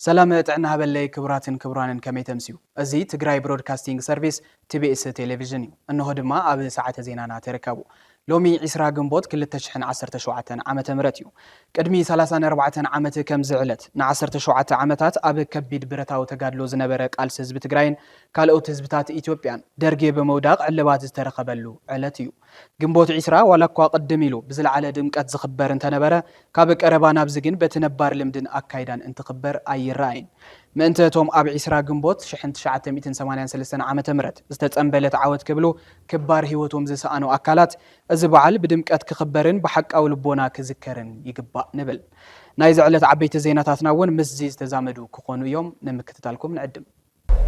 ሰላም ጥዕና ሃበለይ ክቡራትን ክቡራንን ከመይ ተምስዩ እዚ ትግራይ ብሮድካስቲንግ ሰርቪስ ቲቢኤስ ቴሌቭዥን እዩ እንሆ ድማ ኣብ ሰዓተ ዜናና ተረከቡ ሎሚ ዕስራ ግንቦት ክልተ ሽሕን ዓሰርተ ሸውዓተን ዓመተ ምህረት እዩ። ቅድሚ ሰላሳን ኣርባዕተን ዓመት ከምዚ ዕለት፣ ንዓሰርተ ሸውዓተ ዓመታት ኣብ ከቢድ ብረታዊ ተጋድሎ ዝነበረ ቃልሲ ህዝቢ ትግራይን ካልኦት ህዝብታት ኢትዮጵያን፣ ደርጊ ብምውዳቕ ዕልባት ዝተረኸበሉ ዕለት እዩ። ግንቦት ዕስራ ዋላኳ ቅድም ኢሉ ብዝለዓለ ድምቀት ዝኽበር እንተነበረ፣ ካብ ቀረባ ናብዚ ግን በቲ ነባር ልምድን ኣካይዳን እንትኽበር ኣይረኣይን። ምእንተ እቶም ኣብ ዕስራ ግንቦት ሽሕን ትሽዓተ ሚእትን ሰማንያን ሰለስተን ዓመተ ምህረት ዝተጸንበለት ዓወት ክብሉ ክባር ህይወቶም ዝሰኣኑ ኣካላት እዚ በዓል ብድምቀት ክኽበርን ብሓቃዊ ልቦና ክዝከርን ይግባእ ንብል። ናይዚ ዕለት ዓበይቲ ዜናታትና እውን ምስዚ ዝተዛመዱ ክኾኑ እዮም። ንምክትታልኩም ንዕድም።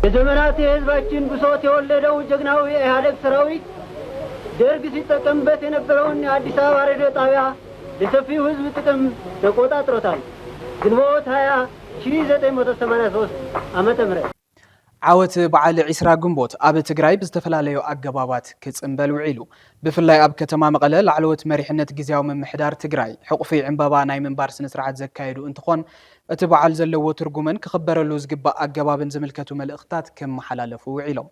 ለዘመናት የህዝባችን ብሶት የወለደው ጀግናው የኢሀደግ ሰራዊት ደርግ ሲጠቀምበት የነበረውን የአዲስ አበባ ሬዲዮ ጣቢያ ለሰፊው ህዝብ ጥቅም ተቆጣጥሮታል። ግንቦት 20 1983 ዓ.ም ዓወት በዓል ዒስራ ግንቦት ኣብ ትግራይ ብዝተፈላለዩ ኣገባባት ክፅምበል ውዒሉ። ብፍላይ ኣብ ከተማ መቐለ ላዕለዎት መሪሕነት ግዝያዊ ምምሕዳር ትግራይ ሕቑፊ ዕምባባ ናይ ምንባር ስነስርዓት ዘካየዱ እንትኾን እቲ በዓል ዘለዎ ትርጉምን ክኽበረሉ ዝግባእ ኣገባብን ዝምልከቱ መልእኽትታት ክመሓላለፉ ውዒሎም።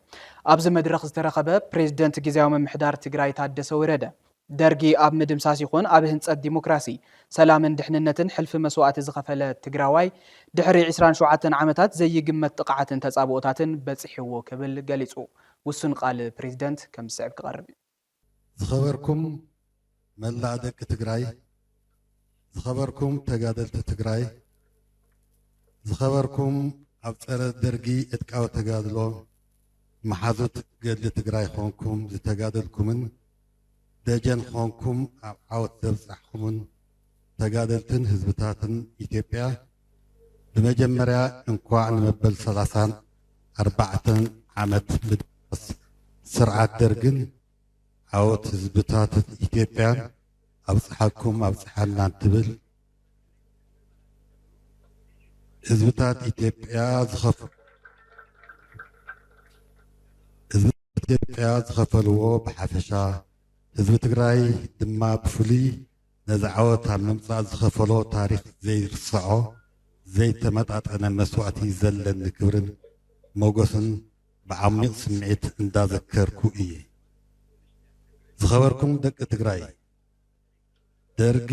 ኣብዚ መድረኽ ዝተረኸበ ፕሬዝደንት ግዝያዊ ምምሕዳር ትግራይ ታደሰ ወረደ፣ ደርጊ ኣብ ምድምሳስ ይኹን ኣብ ህንፀት ዲሞክራሲ፣ ሰላምን ድሕንነትን ሕልፊ መስዋእቲ ዝኸፈለ ትግራዋይ ድሕሪ ዕስራን ሸውዓተን ዓመታት ዘይግመት ጥቕዓትን ተፃብኦታትን በፂሕዎ ክብል ገሊፁ። ውሱን ቃል ፕሬዚደንት ከም ዝስዕብ ክቐርብ እዩ። ዝኸበርኩም መላእ ደቂ ትግራይ ዝኸበርኩም ተጋደልቲ ትግራይ፣ ዝኸበርኩም ኣብ ፀረ ደርጊ ዕጥቃዊ ተጋድሎ መሓዙት ገድሊ ትግራይ ኾንኩም ዝተጋደልኩምን ደጀን ኾንኩም ኣብ ዓወት ዘብፃሕኹምን ተጋደልትን ህዝብታትን ኢትዮጵያ ብመጀመርያ እንኳዕ ንመበል ሰላሳን ኣርባዕተን ዓመት ምድምሳስ ስርዓት ደርግን ዓወት ህዝብታት ኢትዮጵያን ኣብፀሓኩም ኣብፀሓና እንትብል ህዝብታት ኢትዮጵያ ዝኸፍ ኢትዮጵያ ዝኸፈልዎ ብሓፈሻ ህዝቢ ትግራይ ድማ ብፍሉይ ነዚ ዓወት ኣብ ምምፃእ ዝኸፈሎ ታሪክ ዘይርስዖ ዘይተመጣጠነ መስዋእቲ ዘለኒ ክብርን ሞጎስን ብዓሚቕ ስምዒት እንዳዘከርኩ እየ። ዝኸበርኩም ደቂ ትግራይ ደርጊ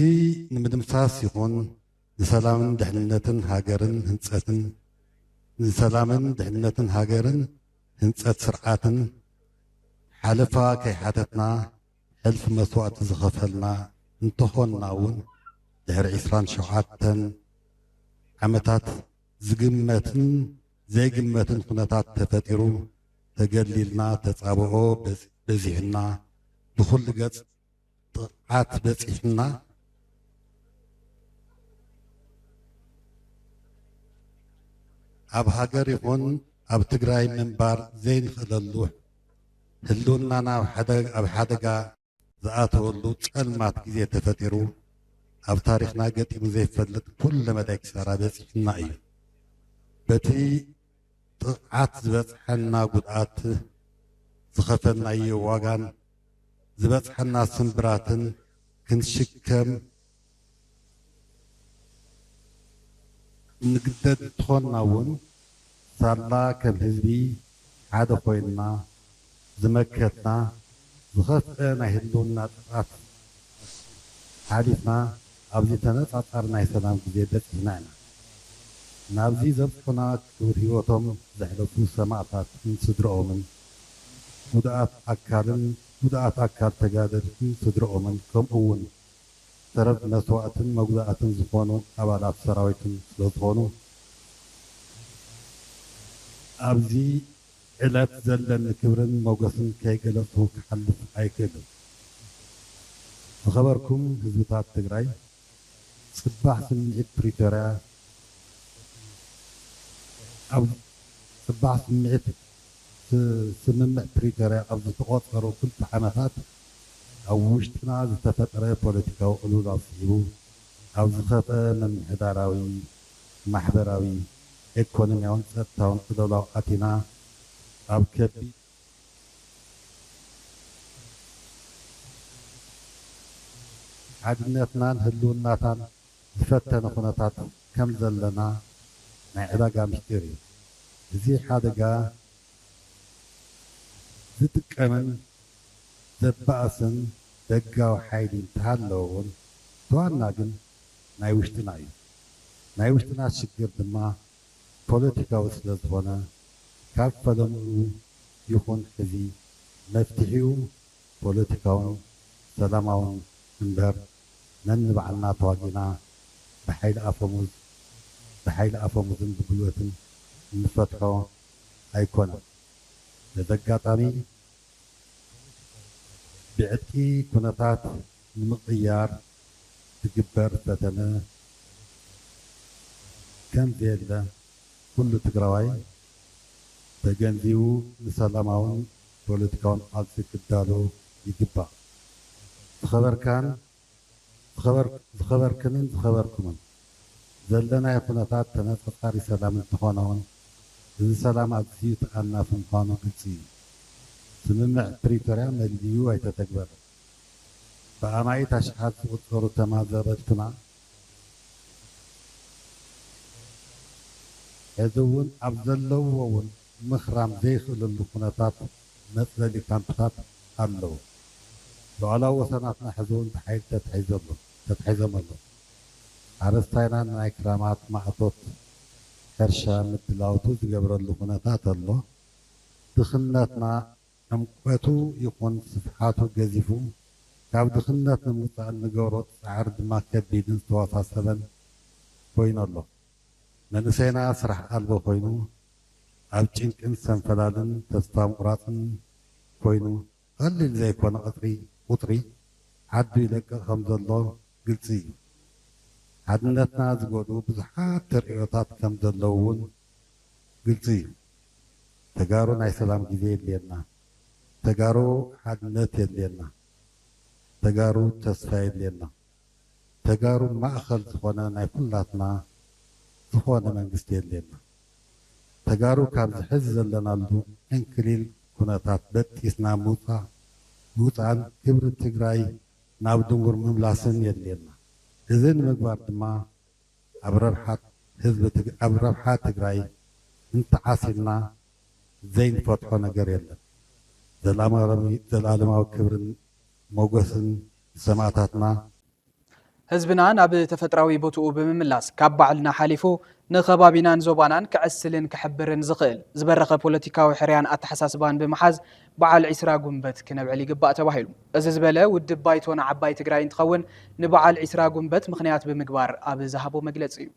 ንምድምሳስ ይኹን ንሰላምን ድሕንነትን ሃገርን ህንፀትን ንሰላምን ድሕንነትን ሃገርን ህንፀት ስርዓትን ሓለፋ ከይሓተትና ሕልፊ መስዋእቲ ዝኸፈልና እንተኾንና እውን ድሕሪ ዕስራን ሸውዓተን ዓመታት ዝግመትን ዘይግመትን ኩነታት ተፈጢሩ ተገሊልና ተጻብኦ በዚሑና ብኹሉ ገጽ ጥቕዓት በጺሑና ኣብ ሃገር ይኹን ኣብ ትግራይ ምንባር ዘይንኽእለሉ ህልውናና ኣብ ሓደጋ ዝኣተወሉ ጸልማት ግዜ ተፈጢሩ ኣብ ታሪኽና ገጢሙ ዘይፈልጥ ኩለ መዳይ ክሳራ በጺሑና እዩ። በቲ ጥቕዓት ዝበጽሐና ጉድኣት ዝኸፈልናዮ ዋጋን ዝበጽሐና ስምብራትን ክንሽከም እንግደድ እንተኾንና እውን ሳላ ከም ህዝቢ ሓደ ኮይንና ዝመከትና ዝኸፍኤ ናይ ህልውና ጥፍኣት ሓሊፍና ኣብዚ ተነፃፃሪ ናይ ሰላም ግዜ በፂሕና ኢና። ናብዚ ዘብፁሑና ክቡር ህይወቶም ዘሕለፉ ሰማእታትን ስድረኦምን፣ ጉዱኣት ኣካልን ጉዱኣት ኣካል ተጋደልትን ስድረኦምን ከምኡ እውን ሰበብ መስዋእትን መጉዳእትን ዝኾኑ ኣባላት ሰራዊትን ስለዝኾኑ ኣብዚ ዕለት ዘለኒ ክብርን ሞገስን ከይገለፅኩ ክሓልፍ ኣይክእልን። ዝኸበርኩም ህዝብታት ትግራይ ፅባሕ ስምዒት ፕሪቶርያ ኣብ ፅባሕ ስምዒት ስምምዕ ፕሪቶርያ ኣብ ዝተቖፀሩ ክልተ ዓመታት፣ ኣብ ውሽጥና ዝተፈጥረ ፖለቲካዊ ቅልውላው ስዒቡ ኣብ ዝኸፍኣ ምምሕዳራዊ፣ ማሕበራዊ፣ ኤኮኖሚያውን ጸጥታውን ቅልውላው ኣቲና ኣብ ከቢድ ሓድነትናን ህልውናታን ዝፈተነ ኩነታት ከም ዘለና ናይ ዕዳጋ ምስጢር እዩ። እዚ ሓደጋ ዝጥቀምን፣ ዘባእስን ደጋዊ ሓይሊ እንተሃለወ ውን ብዋና ግን ናይ ውሽጥና እዩ። ናይ ውሽጥና ሽግር ድማ ፖለቲካዊ ስለዝኾነ ካብ ፈለምኡ ይኹን ሕዚ መፍትሒኡ ፖለቲካውን ሰላማውን እምበር ነንባዕልና ተዋጊእና ብሓይሊ ኣፈሙዝ ብሓይሊ ኣፈሙዝን ብጉልበትን እንፈትሖ ኣይኮነን። በዚ ኣጋጣሚ ብዕጥቂ ኩነታት ንምቕያር ዝግበር ፈተነ ከም ዘየለ ኩሉ ትግራዋይ ተገንዚቡ ንሰላማውን ፖለቲካውን ቃልሲ ክዳሎ ይግባእ። ዝኸበርካን ዝኸበርክንን ዝኸበርኩምን፣ ዘለናዮ ኩነታት ተነጸጻሪ ሰላም እንተኾነውን፣ እዚ ሰላም ኣዝዩ ተኣናፊ ምዃኑ ግልጺ እዩ። ስምምዕ ፕሪቶርያ መሊኡ ኣይተተግበረን። ብኣማኢት ኣሽሓት ዝቑጸሩ ተማዛበልትና ሕዚ እውን ኣብ ዘለውዎ እውን ምኽራም ዘይኽእለሉ ኩነታት መፅለሊ ካምፕታት ኣለው። ሉኣላዊ ወሰናትና ሕዚ እውን ብሓይሊ ተታሒዙ ኣሎ፣ ተታሒዞም ኣለው። ሓረስታይና ንናይ ክራማት ማእቶት ሕርሻ ምድላውቱ ዝገብረሉ ኩነታት ኣሎ። ድኽነትና ዕምቆቱ ይኹን ስፍሓቱ ገዚፉ፣ ካብ ድኽነት ንምውፃእ እንገብሮ ፃዕሪ ድማ ከቢድን ዝተወሳሰበን ኮይኑ ኣሎ። መንእሰይና ስራሕ ኣልቦ ኮይኑ ኣብ ጭንቅን ሰንፈላልን ተስፋ ምቑራጽን ኮይኑ ቐሊል ዘይኮነ ቐጽሪ ቑጽሪ ዓዱ ይለቅቕ ከም ዘሎ ግልጺ እዩ። ሓድነትና ዝጎድኡ ብዙሓት ተርእዮታት ከም ዘለዉ እውን ግልጺ እዩ። ተጋሩ ናይ ሰላም ግዜ የድልየና። ተጋሩ ሓድነት የድልየና። ተጋሩ ተስፋ የድልየና። ተጋሩ ማእኸል ዝኾነ ናይ ኩላትና ዝኾነ መንግስቲ የድልየና። ተጋሩ ካብዚ ሕዚ ዘለናሉ ዕንክሊል ኩነታት በጢስና ምውፃእ ምውፃእን ክብሪ ትግራይ ናብ ድንጉር ምምላስን የድልየና። እዚ ንምግባር ድማ ኣብ ረብሓ ህዝቢ ኣብ ረብሓ ትግራይ እንተዓሲልና ዘይንፈትሖ ነገር የለን። ዘልኣማዊ ክብርን ሞጎስን ሰማእታትና። ህዝብና ናብ ተፈጥራዊ ቦትኡ ብምምላስ ካብ ባዕልና ሓሊፉ ንከባቢናን ዞባናን ከዕስልን ከሕብርን ዝኽእል ዝበረኸ ፖለቲካዊ ሕርያን ኣተሓሳስባን ብምሓዝ በዓል ዒስራ ጉንበት ክነብዕል ይግባእ ተባሂሉ። እዚ ዝበለ ውድብ ባይቶና ዓባይ ትግራይ እንትኸውን ንበዓል ዒስራ ጉንበት ምኽንያት ብምግባር ኣብ ዝሃቦ መግለፂ እዩ።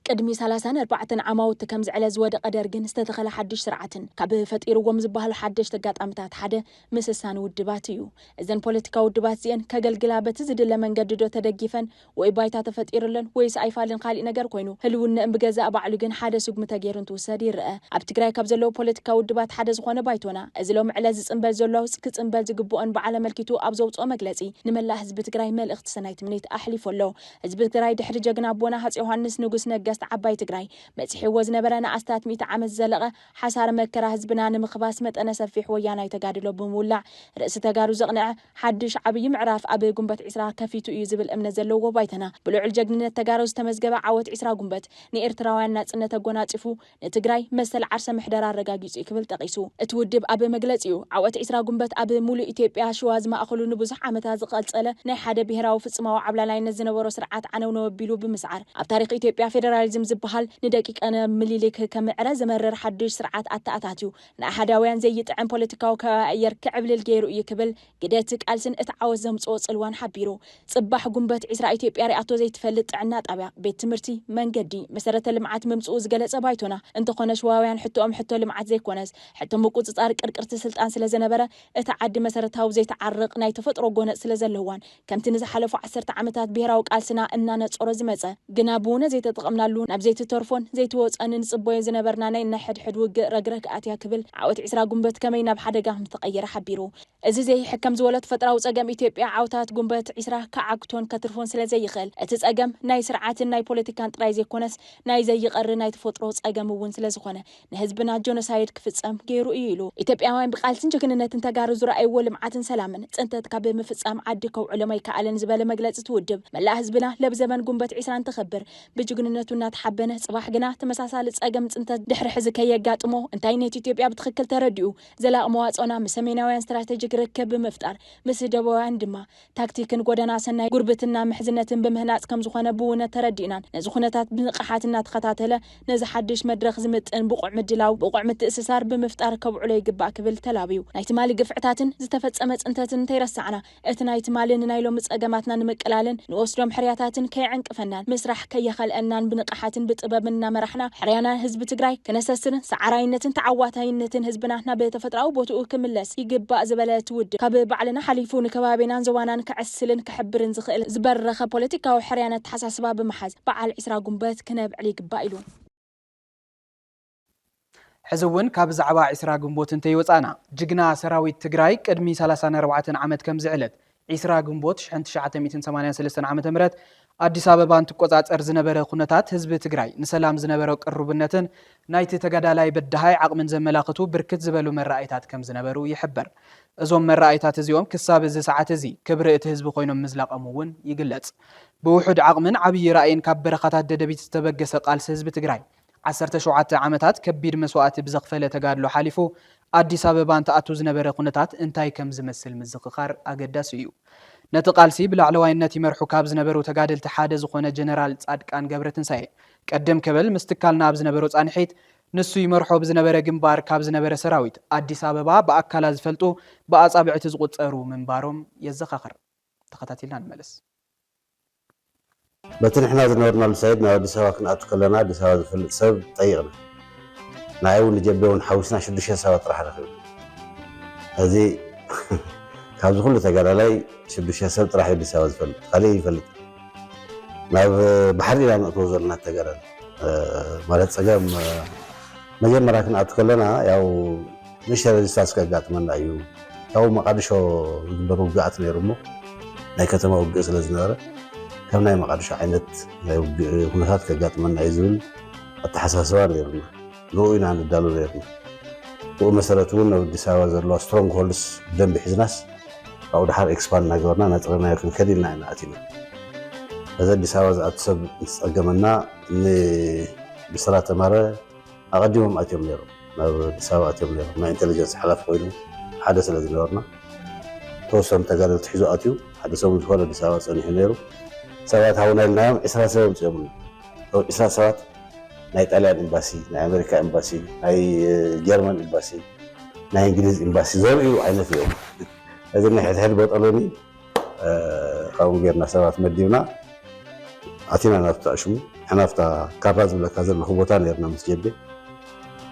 ቅድሚ ሰላሳን ኣርባዕተን ዓማውቲ ከም ዝዕለ ዝወደቐ ደርግን ዝተተኸለ ሓድሽ ስርዓትን ካብ ፈጢርዎም ዝበሃሉ ሓደሽቲ ኣጋጣምታት ሓደ ምስሳን ውድባት እዩ። እዘን ፖለቲካዊ ውድባት እዚኤን ከገልግላ በቲ ዝድለ መንገዲ ዶ ተደጊፈን ወይ ባይታ ተፈጢርለን ወይስ ኣይፋልን ካሊእ ነገር ኮይኑ ህልውነእን ብገዛእ ባዕሉ ግን ሓደ ስጉሚ ተገይሩ እንትውሰድ ይረኣ። ኣብ ትግራይ ካብ ዘለዉ ፖለቲካዊ ውድባት ሓደ ዝኾነ ባይቶና እዚ ሎሚ ዕለት ዝፅንበል ዘሎ ኣውፅ ክፅንበል ዝግበኦን በዓል ኣመልኪቱ ኣብ ዘውፅኦ መግለፂ ንመላእ ህዝቢ ትግራይ መልእኽቲ ሰናይ ትምኒት ኣሕሊፉ ኣሎ። ህዝቢ ትግራይ ድሕሪ ጀግና ኣቦና ሃፄ ዮሃንስ ንጉስ ነገስት ዓባይ ትግራይ በፂሕዎ ዝነበረ ንኣስታት ሚእቲ ዓመት ዝዘለቐ ሓሳረ መከራ ህዝብና ንምኽባስ መጠነ ሰፊሕ ወያናይ ተጋድሎ ብምውላዕ ርእሲ ተጋሩ ዘቕንዐ ሓዱሽ ዓብዪ ምዕራፍ ኣብ ጉንበት ዕስራ ከፊቱ እዩ ዝብል እምነት ዘለዎ ባይቶና ብልዑል ጀግንነት ተጋሩ ዝተመዝገበ ዓወት ዕስራ ጉንበት ንኤርትራውያን ናፅነት ኣጎናፂፉ ንትግራይ መሰል ዓርሰ ምሕደራ ኣረጋጊጹ እዩ ክብል ጠቒሱ። እቲ ውድብ ኣብ መግለጺኡ፣ ዓወት ዕስራ ጉንበት ኣብ ሙሉእ ኢትዮጵያ ሽዋ ዝማእኸሉ ንብዙሕ ዓመታት ዝቐልጸለ ናይ ሓደ ብሄራዊ ፍጽማዊ ዓብላላይነት ዝነበሮ ስርዓት ዓነውነው ኣቢሉ ብምስዓር ኣብ ታሪኽ ኢትዮጵያ ፌደራሊዝም ዝበሃል ንደቂቀ ምሊሊክ ከምዕረ ዘመርር ሓዱሽ ስርዓት ኣተኣታትዩ ንኣሃዳውያን ዘይጥዕም ፖለቲካዊ ከባቢ ኣየር ክዕብልል ገይሩ እዩ ክብል ግደ እቲ ቃልስን እቲ ዓወት ዘምጽኦ ጽልዋን ሓቢሩ። ጽባሕ ጉንበት ዕስራ ኢትዮጵያ ሪኣቶ ዘይትፈልጥ ጥዕና ጣብያ፣ ቤት ትምህርቲ፣ መንገዲ፣ መሰረተ ልምዓት ምምጽኡ ዝገለጸ ባይቶና፣ እንተኾነ ሽዋውያን ሕቶኦም ሕቶ ልምዓት ዘይኮነስ ሕቶ ምቁጽጻር ቅርቅርቲ ስልጣን ስለዘነበረ እታ ዓዲ መሰረታዊ ዘይትዓርቕ ናይ ተፈጥሮ ጎነጽ ስለዘለዋን ከምቲ ንዝሓለፉ ዓሰርተ ዓመታት ብሄራዊ ቃልስና እናነጸሮ ዝመጸ ግና ብውነ ዘይተጠቐምናሉ ናብ ዘይትተርፎን ዘይትወጸን እንጽበዮ ዝነበርና ናይ ነሕድሕድ ውግእ ረግረግ ኣትያ ክብል ዓወት ዕስራ ጉንበት ከመይ ናብ ሓደጋ ከምዝተቐየረ ሓቢሩ። እዚ ዘይሕከም ዝወሎ ተፈጥራዊ ጸገም ኢትዮጵያ ዓውታት ጉንበት ዒስራ ክዓግቶን ከትርፎን ስለ ዘይኽእል፣ እቲ ጸገም ናይ ስርዓትን ናይ ፖለቲካን ጥራይ ዘይኮነስ ናይ ዘይቐሪ ናይ ተፈጥሮ ጸገም እውን ስለ ዝኾነ ንህዝብና ጆኖሳይድ ክፍጸም ገይሩ እዩ ኢሉ። ኢትዮጵያውያን ብቃልስን ጅግንነትን ተጋሩ ዝረኣይዎ ልምዓትን ሰላምን ጽንተት ካብ ምፍጻም ዓዲ ከውዕሎም ኣይከኣለን ዝበለ መግለጺ እቲ ውድብ፣ መላእ ህዝብና ለብዘበን ጉንበት ዒስራ እንተኽብር ብጅግንነቱ እናተሓበነ ጽባሕ ግና ተመሳሳሊ ጸገም ጽንተት ድሕሪ ሕዚ ከየጋጥሞ እንታይነት ኢትዮጵያ ብትኽክል ተረዲኡ ዘላቂ መዋጽኦና ምስ ሰሜናውያን ስትራተጂክ ርክብ ብምፍጣር ምስ ደቡባውያን ድማ ታክቲክን ጎደና ሰናይ ጉርብትና ምሕዝነትን ብምህናጽ ከምዝኾነ ብውነ ተረዲእናን ነዚ ኩነታት ብንቕሓት እናተኸታተለ ነዚ ሓድሽ መድረኽ ዝምጥን ብቑዕ ምድላው ብቑዕ ምትእስሳር ብምፍጣር ከብዕሎ ይግባእ ክብል ተላብዩ ናይ ትማሊ ግፍዕታትን ዝተፈጸመ ጽንተትን እንተይረሳዕና እቲ ናይ ትማሊ ንናይ ሎሚ ጸገማትና ንምቅላልን ንወስዶም ሕርያታትን ከየዕንቅፈናን ምስራሕ ከየኸልአናን ብንቕሓትን ብጥበብን እናመራሕና ሕርያና ህዝቢ ትግራይ ክነሰስርን ሰዓራይነትን ተዓዋታይነትን ህዝብና ናብ ተፈጥራዊ ቦትኡ ክምለስ ይግባእ ዝበለ እቲ ውድብ ካብ ባዕልና ሓሊፉ ንከባቢናን ዞባናን ከዕስልን ከሕብርን ዝኽእል ዝበረኸ ፖለቲካዊ ሕርያን ኣተሓሳስባ ብምሓዝ በዓል ዕስራ ጉንበት ክነብዕል ይግባእ ኢሉ። ሕዚ እውን ካብ ዛዕባ ዒስራ ግንቦት እንተይወፃእና ጅግና ሰራዊት ትግራይ ቅድሚ ሰላሳን ኣርባዕተን ዓመት ከምዚ ዕለት ዒስራ ግንቦት ሽሕን ትሽዓተ ሚእትን ሰማንያን ሰለስተን ዓመተ ምህረት ኣዲስ ኣበባ እንትቆፃፀር ዝነበረ ኩነታት ህዝቢ ትግራይ ንሰላም ዝነበሮ ቅሩብነትን ናይቲ ተጋዳላይ በዳሃይ ዓቕምን ዘመላኽቱ ብርክት ዝበሉ መረኣይታት ከምዝነበሩ ይሕበር። እዞም መረኣይታት እዚኦም ክሳብ እዚ ሰዓት እዚ ክብሪ እቲ ህዝቢ ኮይኖም ምዝላቐም እውን ይግለፅ። ብውሑድ ዓቕምን ዓብዪ ራእይን ካብ በረኻታት ደደቢት ዝተበገሰ ቃልሲ ህዝቢ ትግራይ ዓሰርተ ሸውዓተ ዓመታት ከቢድ መስዋእቲ ብዘኽፈለ ተጋድሎ ሓሊፉ ኣዲስ ኣበባ እንትኣቱ ዝነበረ ኩነታት እንታይ ከም ዝመስል ምዝኽኻር ኣገዳሲ እዩ። ነቲ ቃልሲ ብላዕለዋይነት ይመርሑ ካብ ዝነበሩ ተጋደልቲ ሓደ ዝኾነ ጀነራል ጻድቃን ገብረትንሳኤ ቀደም ከበል ምስ ትካልና ኣብ ዝነበሮ ጻንሒት ንሱ ይመርሖ ብዝነበረ ግንባር ካብ ዝነበረ ሰራዊት ኣዲስ ኣበባ ብኣካላ ዝፈልጡ ብኣጻብዕቲ ዝቑጸሩ ምንባሮም የዘኻኽር። ተኸታቲልና ንመለስ። በቲ ንሕና ዝነበርናሉ ሳይድ ናብ ኣዲስ ኣበባ ክንኣቱ ከለና ኣዲስ ኣበባ ዝፈልጥ ሰብ ጠይቕና ንዓይ ውን ንጀቤ ውን ሓዊስና ሽዱሽተ ሰባት ጥራሕ ረኺብና ሕዚ ካብዚ ኩሉ ተጋዳላይ ሽዱሽተ ሰብ ጥራሕ ዩ ኣዲስ ኣበባ ዝፈልጥ ካሊእ ኣይፈልጥን ናብ ባሕሪ ኢና ነእትዎ ዘለና እቲ ተጋዳላይ ማለት ፀገም መጀመርያ ክንኣቱ ከለና ያው ንእሽተይ ረዚስታንስ ከጋጥመና እዩ ካብኡ መቓድሾ ዝግበር ውግኣት ነይሩ እሞ ናይ ከተማ ውግእ ስለ ዝነበረ ከም ናይ መቓድሾ ዓይነት ናይ ውግእ ኩነታት ከጋጥመና እዩ ዝብል ኣተሓሳስባ ነይሩና ንኡ ኢና ንዳሉ ነይርና ብኡ መሰረት እውን ኣብ ኣዲስ ኣበባ ዘለዋ ስትሮንግ ሆልድስ ብደንቢ ሒዝናስ ካብኡ ድሓር ኤክስፓንድ እናገበርና ነጥረናዮ ክንከድ ኢልና ኢና ኣቲና እዚ ኣዲስ ኣበባ ዝኣቱ ሰብ እንትፀገመና ንብስራት ተማረ ኣቐዲሞም ኣትዮም ነይሮም ናብ ኣዲስ ኣበባ ኣትዮም ነይሮም ናይ ኢንተለጀንስ ሓላፊ ኮይኑ ሓደ ስለ ዝነበርና ተወሰኑ ተጋደልቲ ሒዙ ኣትዩ ሓደ ሰሙን ዝኾነ ኣዲስ ኣበባ ጸኒሑ ነይሩ ሰባት ሃውና ኢልናዮም ዕስራ ሰብ ኣምጺኦምና እቶም ዕስራ ሰባት ናይ ጣልያን ኤምባሲ ናይ ኣሜሪካ ኤምባሲ ናይ ጀርመን ኤምባሲ ናይ እንግሊዝ ኤምባሲ ዘርእዩ ዓይነት እዮም እዚ ናይ ሕድሕድ በጠሎኒ ካብኡ ጌርና ሰባት መዲብና ኣቲና ናብቲ ኣሽሙ ንሕና ኣብታ ካራ ዝብለካ ዘለኹ ቦታ ነርና ምስ ጀቤ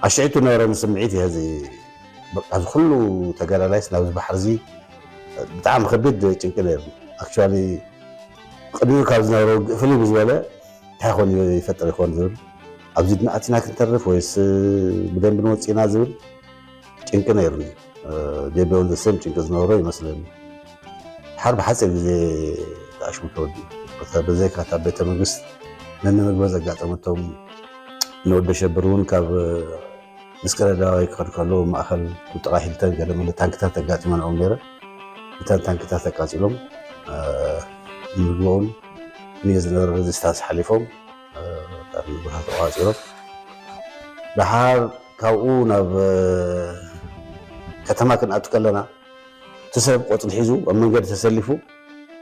ኣሽዒቱ ነበረኒ ስምዒት እየ እዚ በቃ እዚ ኩሉ ተጋዳላይስ ናብዚ ባሕሪ እዚ ብጣዕሚ ከቢድ ጭንቂ ነርኒ ኣክቹዋሊ ቅድሚኡ ካብ ዝነበረ ውግእ ፍልይ ብዝበለ እንታይ ኮን ይፈጥር ይኮን ዝብል ኣብዚ ድና ኣቲና ክንተርፍ ወይስ ብደንቢ ንወፂእና ዝብል ጭንቂ ነይሩኒ ጀቤ ወልደ ሰም ጭንቂ ዝነበሮ ይመስለኒ ሓር ብሓፂር ግዜ ዳኣሽሙ ተወዲኡ ብዘይካ እታ ቤተ መንግስት ነንመግበ ዘጋጠመቶም ንወደ ሸብር እውን ካብ ምስክረዳዋይ ክኸድ ከሎ ማእኸል ብጥቓ ሂልተን ገለ መለ ታንክታት ኣጋጢመንኦም ነይረ እተን ታንክታት ኣቃፂሎም ንምግበውን ንየ ዝነበረ ሬዚስታንስ ሓሊፎም ካብ ንቡራት ተቋጺሮም ደሓር ካብኡ ናብ ከተማ ክንኣቱ ከለና እቲ ሰብ ቆፅሊ ሒዙ ኣብ መንገዲ ተሰሊፉ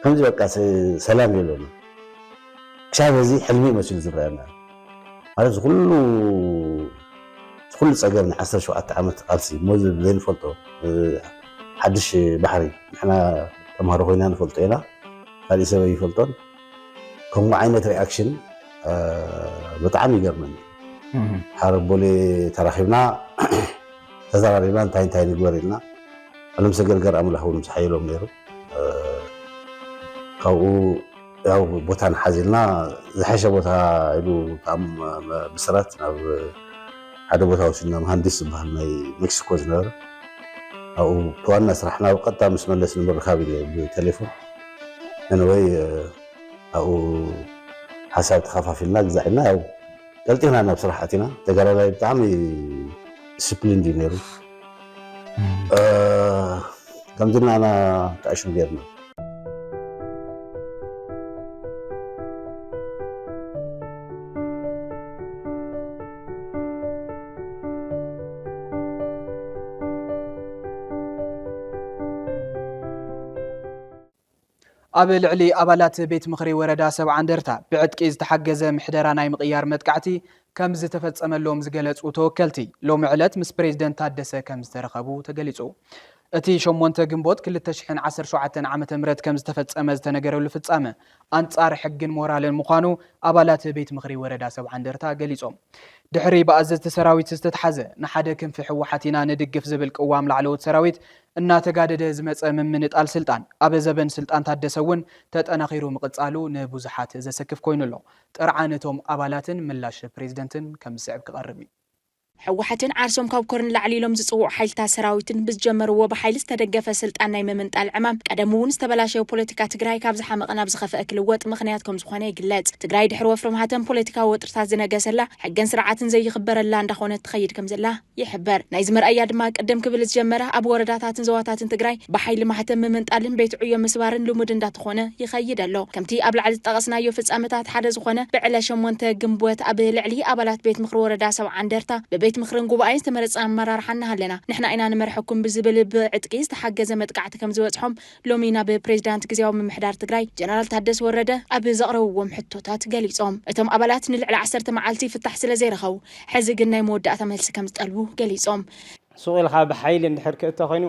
ከምዚ በቃ ሰላም የለን። ክሻብ እዚ ሕልሚ መሲሉ ዝረኣየና ማለት ዝኩሉ ዝኩሉ ፀገም ን ዓሰርተ ሸውዓተ ዓመት ቃልሲ እሞ ዘይንፈልጦ ሓድሽ ባሕሪ ንሕና ተምሃሮ ኮይና ንፈልጦ ኢና ካሊእ ሰብ ኣይፈልጦን። ከምኡ ዓይነት ሪኣክሽን ብጣዕሚ ይገርመኒ ሓደ ቦሌ ተራኺብና ተዘራሪብና እንታይ እንታይ ንግበር ኢልና ዕለም ሰገድ ገር ኣምላኽ እውን ምስ ሓየሎም ነይሩ ካብኡ ያው ቦታ ንሓዚልና ዝሓሸ ቦታ ኢሉ ብስራት ናብ ሓደ ቦታ ወሲድና መሃንዲስ ዝበሃል ናይ ሜክሲኮ ዝነበረ ኣብኡ ብዋና ስራሕና ብቀጥታ ምስ መለስ ንምርካብ ኢለ ብቴሌፎን ኤኒወይ ኣብኡ ሓሳብ ተኻፋፊልና ግዛ ኢልና ያው ቀልጢፍና ናብ ስራሕ ኣቲና ተጋዳላይ ብጣዕሚ ዲስፕሊን እዩ ነይሩ ከምዚ ናና ተኣሽም ጌርና ኣብ ልዕሊ ኣባላት ቤት ምኽሪ ወረዳ ሰብዓ እንደርታ ብዕጥቂ ዝተሓገዘ ምሕደራ ናይ ምቕያር መጥቃዕቲ ከም ዝተፈፀመሎም ዝገለፁ ተወከልቲ ሎሚ ዕለት ምስ ፕሬዝደንት ታደሰ ከም ዝተረኸቡ ተገሊፁ። እቲ ሸሞንተ ግንቦት ክልተ ሽሕን ዓሰርተ ሸውዓተን ዓመተ ምህረት ከም ዝተፈጸመ ዝተነገረሉ ፍጻመ፣ ኣንጻር ሕግን ሞራልን ምዃኑ ኣባላት ቤት ምኽሪ ወረዳ ሰብዓ እንደርታ ገሊጾም። ድሕሪ ብኣዘዝቲ ሰራዊት ዝተትሓዘ፣ ንሓደ ክንፊ ህወሓት ኢና ንድግፍ ዝብል ቅዋም ላዕለዎት ሰራዊት እናተጋደደ ዝመጸ ምምንጣል ስልጣን፣ ኣብ ዘበን ስልጣን ታደሰ እውን ተጠናኺሩ ምቕጻሉ ንብዙሓት ዘሰክፍ ኮይኑ ኣሎ። ጥርዓን እቶም ኣባላትን ምላሽ ፕሬዝደንትን ከም ዝስዕብ ክቐርብ እዩ። ህወሓትን ዓርሶም ካብ ኮር ንላዕሊ ኢሎም ዝፅውዑ ሓይልታት ሰራዊትን ብዝጀመርዎ ብሓይሊ ዝተደገፈ ስልጣን ናይ ምምንጣል ዕማም ቀደሙ እውን ዝተበላሸወ ፖለቲካ ትግራይ ካብ ዝሓመቐ ናብ ዝኸፈኣ ክልወጥ ምኽንያት ከምዝኾነ ይግለፅ። ትግራይ ድሕሪ ወፍሪ ማህተም ፖለቲካዊ ወጥርታት ዝነገሰላ፣ ሕግን ስርዓትን ዘይኽበረላ እንዳኾነት ትኸይድ ከምዘላ ይሕበር። ናይዚ መርኣያ ድማ ቅድም ክብል ዝጀመረ ኣብ ወረዳታትን ዞባታትን ትግራይ ብሓይሊ ማሕተም ምምንጣልን ቤት ዕዮ ምስባርን ልሙድ እንዳተኾነ ይኸይድ ኣሎ። ከምቲ ኣብ ላዕሊ ዝጠቐስናዮ ፍጻመታት ሓደ ዝኾነ ብዕለ ሸሞንተ ግንቦት ኣብ ልዕሊ ኣባላት ቤት ምኽሪ ወረዳ ሰብዓ እንደርታ ብቤት ምኽርን ጉባኤን ዝተመረጸ ኣመራርሓ እናሃለና ንሕና ኢና ንመርሐኩም ብዝብል ብዕጥቂ ዝተሓገዘ መጥቃዕቲ ከምዝበጽሖም ሎሚ ናብ ፕሬዚዳንት ግዝያዊ ምምሕዳር ትግራይ ጀነራል ታደሰ ወረደ ኣብ ዘቕረብዎም ሕቶታት ገሊጾም። እቶም ኣባላት ንልዕሊ ዓሰርተ መዓልቲ ፍታሕ ስለዘይረኸቡ ሕዚ ግን ናይ መወዳእታ መልሲ ከምዝጠልቡ ገሊጾም። ሱቕ ኢልካ ብሓይሊ እንድሕር ክእቶ ኮይኑ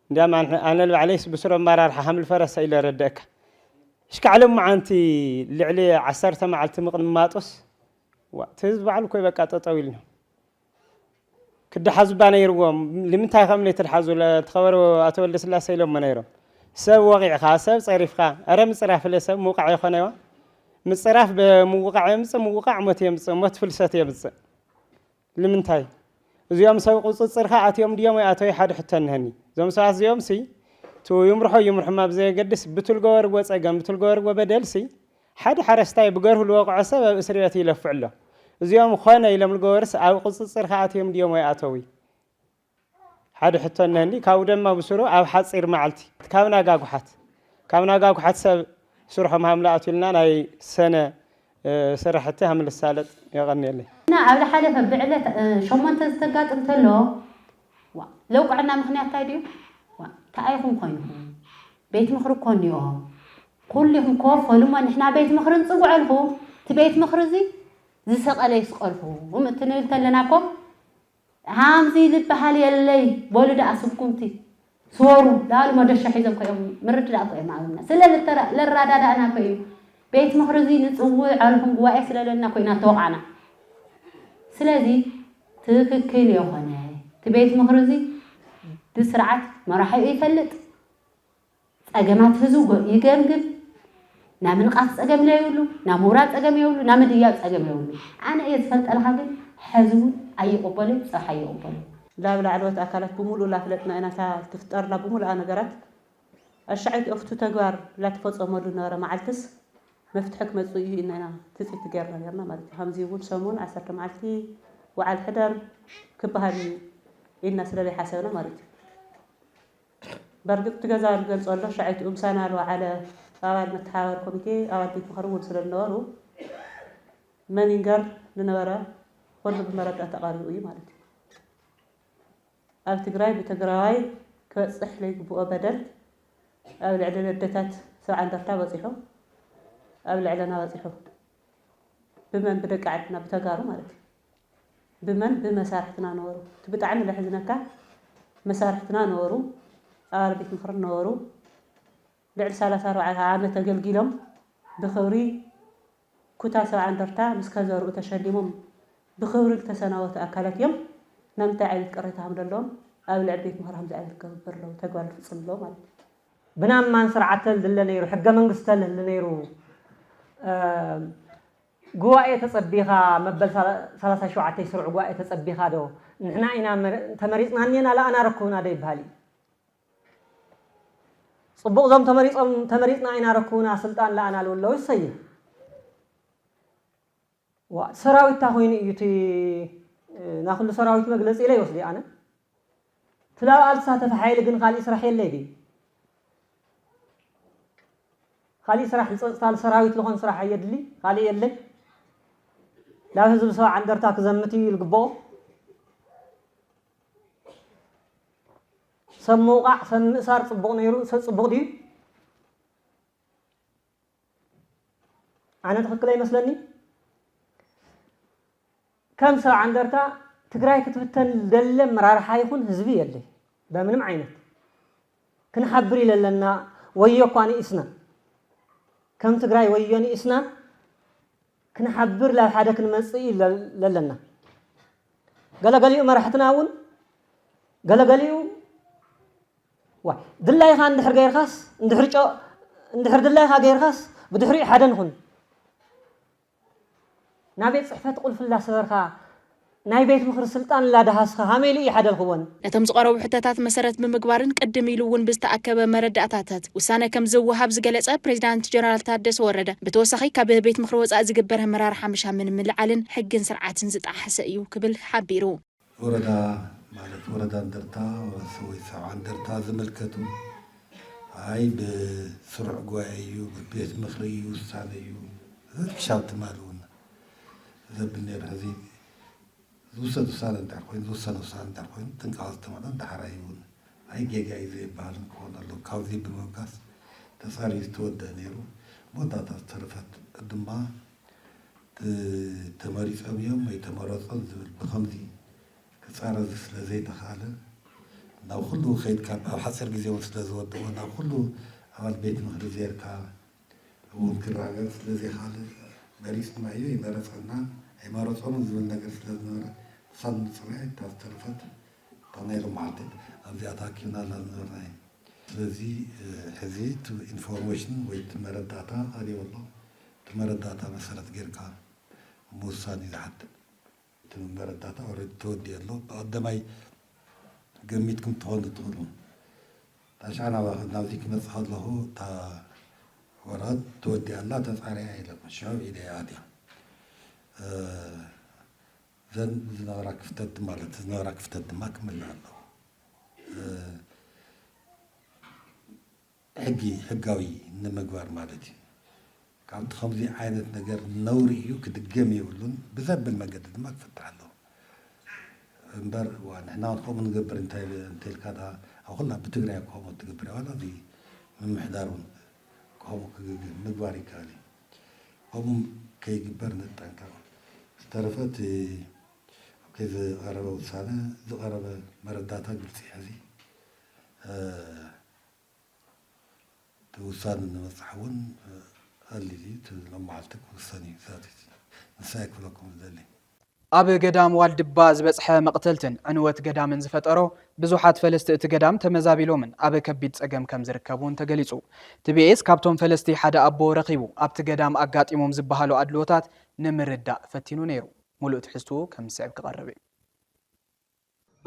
እንዲያም ኣነ ንባዕለይስ ብስሩ ኣመራርሓ ሃምል ፈረሰ ኢለ ረደእካ ሽካዕ ሎመዓንቲ ልዕሊ ዓሰርተ መዓልቲ ምቕንማጡስ ዋእ እቲ ህዝቢ ባዕሉ እኮ በቃ ጠጠው ኢልና ክደሓዙ እባ ነይርዎም ልምንታይ ከም ነይትድሓዙ ተኸበሩ ኣቶ ወልደስላሴ ኢሎሞ ነይሮም ሰብ ወቂዕኻ ሰብ ፀሪፍካ ኣረ ምፅራፍለ ሰብ ምውቃዕ ይኾነዋ ምፅራፍ ብምውቃዕ የምፅእ ምውቃዕ ሞት የምፅእ ሞት ፍልሰት የምፅእ ልምንታይ እዚኦም ሰብ ቁጽጽርካ ኣትዮም ድዮም ወይ ኣቶይ ሓድ ሕቶ እንሀኒ እዞም ሰባት እዚኦም ሲ እቱ ይምርሖ ይምርሖም ኣብ ዘየገድስ ብቱ ልገበርዎ ጸገም ብቱ ልገበርዎ በደል ሲ ሓድ ሓረስታይ ብገርሁ ልወቅዖ ሰብ ኣብ እስርበት ይለፍዕ ኣሎ እዚኦም ኾነ ኢሎም ልገበሩስ ኣብ ቁጽጽርካ ኣትዮም ድዮም ወይ ኣተውይ ሓደ ሕቶ እነሀኒ ካብኡ ደማ ብሱሩ ኣብ ሓጺር ማዓልቲ ካብ ናጋጉሓት ካብ ናጋጉሓት ሰብ ስርሖም ሃምለ ኣትዩልና ናይ ሰነ ሰራሕቲ ሃምል ዝሳለጥ የቀንየለይ። እና ኣብ ልሓለፈ ብዕለት ሸሞንተ ዝተጋጥም ተሎ ዋእ ለውቅዕና ምክንያት ታይ ድዩ ዋእ ታይ ኢኩም ኮይንኩም ቤት ምክሪ እኮ እኒኦ ኩሉ ኢኩም ክወፈሉ እሞ ንሕና ቤት ምክሪ ንፅውዐልኩም እቲ ቤት ምክሪ እዙይ ዝሰቀለ ይስቀልኩም እቲ ንብል ተለና እኮ ሃምዚ ልባሃል የለይ በሉ ዳኣ ስጉምቲ ስወሩ ዳኣሉ መዶሻ ሒዞም እኮ እዮም ምርድዳእ እኮ እዮም ኣብና ስለ ልራዳዳእና እኮ እዩ ቤት ምኽሪ እዙይ ንፅውዕ ኣልኹም ጉባኤ ስለ ለና እኮ ኢና ተወቓዕና ስለዚ ትክክል የኾነ እቲ ቤት ምኽሪ እዙይ ብስርዓት መራሒኡ ይፈልጥ ጸገማት ህዝቢ ይገምግም ናይ ምንቓፍ ጸገም ለይብሉ ናይ ምውራድ ጸገም የብሉ ናይ ምድያብ ጸገም የብሉ ኣነ እየ ዝፈልጠልኻ ግን ሐዚ እውን ኣይቕበሎ እዩ ጽባሕ ኣይቕበሎ። ላብ ላዕለዎት ኣካላት ብምሉኡ ላፍለጥና ኢና እታ ትፍጠርላ ብምሉኣ ነገራት ኣሻዐይቲ ኦፍቱ ተግባር ላተፈጸመሉ ዝነበረ ማዓልትስ መፍትሒ ክመጽእ እዩ ኢልና ኢና ትጽቢት ገይርና ነይርና ማለት እዩ ሀምዚ እውን ሰሙን ዓሰርተ ማዓልቲ ውዓል ሕደር ክባሃል እዩ ኢልና ስለለይሓሰብና ማለት እዩ በርግጥ እቲ ገዛ ኣብ ዝገልጸሉ ሻዕይቱ እምሳና ልወዓለ ኣባል መተሓባባሪ ኮሚቴ ኣባል ቤት ምኽሪ እውን ስለ ዝነበሩ መን ይንገር ዝነበረ ኹሉ ብመረዳእ ተቓሪቡ እዩ ማለት እዩ። ኣብ ትግራይ ብትግራዋይ ክበጽሕ ለይግብኦ በደል ኣብ ልዕሊ ኣደታት ሰብዓ እንደርታ በጺሑ ኣብ ልዕለና በጺሑ ብመን ብደቂ ዓድና ብተጋሩ ማለት እዩ። ብመን ብመሳርሕትና ነበሩ እቲ ብጣዕሚ ለሕዝነካ መሳርሕትና ነበሩ ኣባል ቤት ምኽሪ ነበሩ ልዕሊ ሰላሳ ኣርባዕተ ዓመት ኣገልጊሎም ብኽብሪ ኩታ ሰብዓ እንደርታ ምስ ከዘርኡ ተሸሊሞም ብኽብሪ ዝተሰናበቱ ኣካላት እዮም ናብ እንታይ ዓይነት ቅሬታ ከም ዘለዎም ኣብ ልዕሊ ቤት ምኽሪ ከምዚ ዓይነት ክግበር ኣለዎ ተግባር ክፍፅም ኣለዎ ማለት እዩ ብናማን ስርዓተል ድለ ነይሩ ሕገ መንግስተል ህሊ ነይሩ ጉባኤ ተጸቢኻ መበል ሰላሳ ሸውዓተይ ስሩዕ ጉባኤ ተጸቢኻ ዶ ንሕና ኢና ተመሪጽና እኔና ለኣና ኣረኩብና ዶ ይበሃል እዩ ጽቡቕ ዞም ተመሪጾም ተመሪጽና ኢና ረኩብና ስልጣን ለኣና ልውለው ይሰይም ሰራዊት ታኾይኑ እዩ እቲ ናኹሉ ሰራዊት መግለጺ ኢለ ይወስዲ ኣነ እቲ ናብ ኣል ትሳተፊ ሓይሊ ግን ካሊእ ስራሕ የለይ ድዩ ካሊእ ስራሕ ልፀፅታ ልሰራዊት ልኾን ስራሕ ኣየድሊ ካሊእ የለይ ናብ ህዝቢ ሰብዓ እንደርታ ክዘምት እዩ ልግበኦ ሰብ ምውቃዕ ሰብ ምእሳር ፅቡቕ ነይሩ ሰብ ፅቡቕ ድዩ ኣነ ትኽክለ ይመስለኒ ከም ስራ ዓንደርታ ትግራይ ክትብተን ደለ መራርሓ ይኹን ህዝቢ የለይ በምንም ዓይነት ክንሓብር ኢለለና ወዮ እኳ ንኢስና ከም ትግራይ ወዮ ንኢስና ክንሓብር ላብ ሓደ ክንመፅእ ለለና ገለገሊኡ መራሕትና እውን ገለገሊኡ ዋይ ድላይኻ እንድሕር ገይርካስ እንድሕር ጨ እንድሕር ድላይኻ ገይርካስ ብድሕሪኡ ሓደ ንኹን ናቤት ጽሕፈት ቁልፊ እላሰበርካ ናይ ቤት ምኽሪ ስልጣን እላደሃስኻ ሃመይ ኢሉ እዩ ሓደ ልኽወን። ነቶም ዝቐረቡ ሕቶታት መሰረት ብምግባርን ቅድም ኢሉ እውን ብዝተኣከበ መረዳእታታት ውሳነ ከምዝወሃብ ዝገለፀ ፕሬዚዳንት ጀነራል ታደሰ ወረደ ብተወሳኺ ካብ ቤት ምኽሪ ወፃኢ ዝግበር ኣመራርሓ ምሻምን ምልዓልን ሕግን ስርዓትን ዝጠሓሰ እዩ ክብል ሓቢሩ። ወረዳ ማለት ወረዳ እንደርታ ወይ ሰብዓ እንደርታ ዝምልከቱ ኣይ ብስሩዕ ጉባኤ እዩ ብቤት ምክሪ እዩ ውሳነ እዩ ክሻብ ትማሊ እውን ዘብል ነይሩ ሕዚ ዝውሰድ ውሳነ እንድሕር ኮይኑ ዝውሰነ ውሳነ እንድሕር ኮይኑ ጥንቃቐ ዝተመልኦ እንድሕር ኣይውን ኣይ ጌጋ እዩ ዘይበሃልን ክኾን ኣሎ ካብዚ ብምብጋስ ተፃርዩ ዝተወደአ ነይሩ መወዳእታ ዝተረፈት ድማ ተመሪጾም እዮም ኣይተመረጹን ዝብል ብኸምዚ ክጻረዝ ስለ ዘይተኻእለ ናብ ኩሉ ከይድካ ኣብ ሓጺር ግዜ እውን ስለ ዝወድኦ ናብ ኩሉ ኣባል ቤት ምኽሪ ዜርካ እውን ክረጋገጽ ስለ ዘይካለ መሪጽና እዩ ኣይመረጸናን ኣይመረጾምን ዝብል ነገር ስለ ዝነበረ ክሳብ ምጽራይ እታ ዝተረፈት እታ ናይ ሎም መዓልቲ ኣብዚኣ ተኣኪብናላ ዝነበርና እዩ። ስለዚ ሕዚ እቲ ኢንፎርሜሽን ወይ እቲ መረዳእታ ቀሪቡ ኣሎ። እቲ መረዳእታ መሰረት ጌርካ ምውሳን እዩ ዝሓትት። እቲ መረዳእታ ኦረዲ ተወዲኡ ኣሎ ብቀደማይ ገሚትኩም ክትኾኑ ትኽእሉ ታሽዓ ናባኹም ናብዚ ክመጽእ ከለኹ እታ ወረቀት ተወዲኣ ኣላ ተጻርያ ኢሎም ሽዑ ኢደ እያ ኣትያ እዘን ዝነበራ ክፍተት ድማ እቲ ዝነበራ ክፍተት ድማ ክምልእ ኣለዎ። ሕጊ ሕጋዊ ንምግባር ማለት እዩ። ከምቲ ከምዚ ዓይነት ነገር ነውሪ እዩ ክድገም የብሉን ብዘብል መንገዲ ድማ ክፍታሕ ኣለዎ እምበር እዋ ንሕና እውን ከምኡ ንገብር እንተኢልካ ድኣ ኣብ ኩላ ብትግራይ ከምኡ ትገብር እያ ዋላ እዚ ምምሕዳር እውን ከምኡ ክግግህ ምግባር ይከኣል እዩ ከምኡ ከይግበር ንጠንቀቕ ዝተረፈ እቲ ኣብከይ ዝቐረበ ውሳነ ዝቐረበ መረዳእታ ግልፂ ሕዚ እቲ ውሳነ ንበጻሒ እውን ቐሊል እዩ፣ እቲ ሎማዓልቲ ክውሰን እዩ ዛዚዙ፣ ንሱ እየ ክብለኩም ዝደሊ። ኣብ ገዳም ዋልድባ ዝበጽሐ መቕተልትን ዕንወት ገዳምን ዝፈጠሮ፣ ብዙሓት ፈለስቲ እቲ ገዳም ተመዛቢሎምን ኣብ ከቢድ ጸገም ከም ዝርከቡን ተገሊጹ። ቲቢኤስ ካብቶም ፈለስቲ ሓደ ኣቦ ረኺቡ ኣብቲ ገዳም ኣጋጢሞም ዝበሃሉ ኣድልዎታት ንምርዳእ ፈቲኑ ነይሩ። ሙሉእ ትሕዝትኡ ከም ዝስዕብ ክቐርብ እዩ።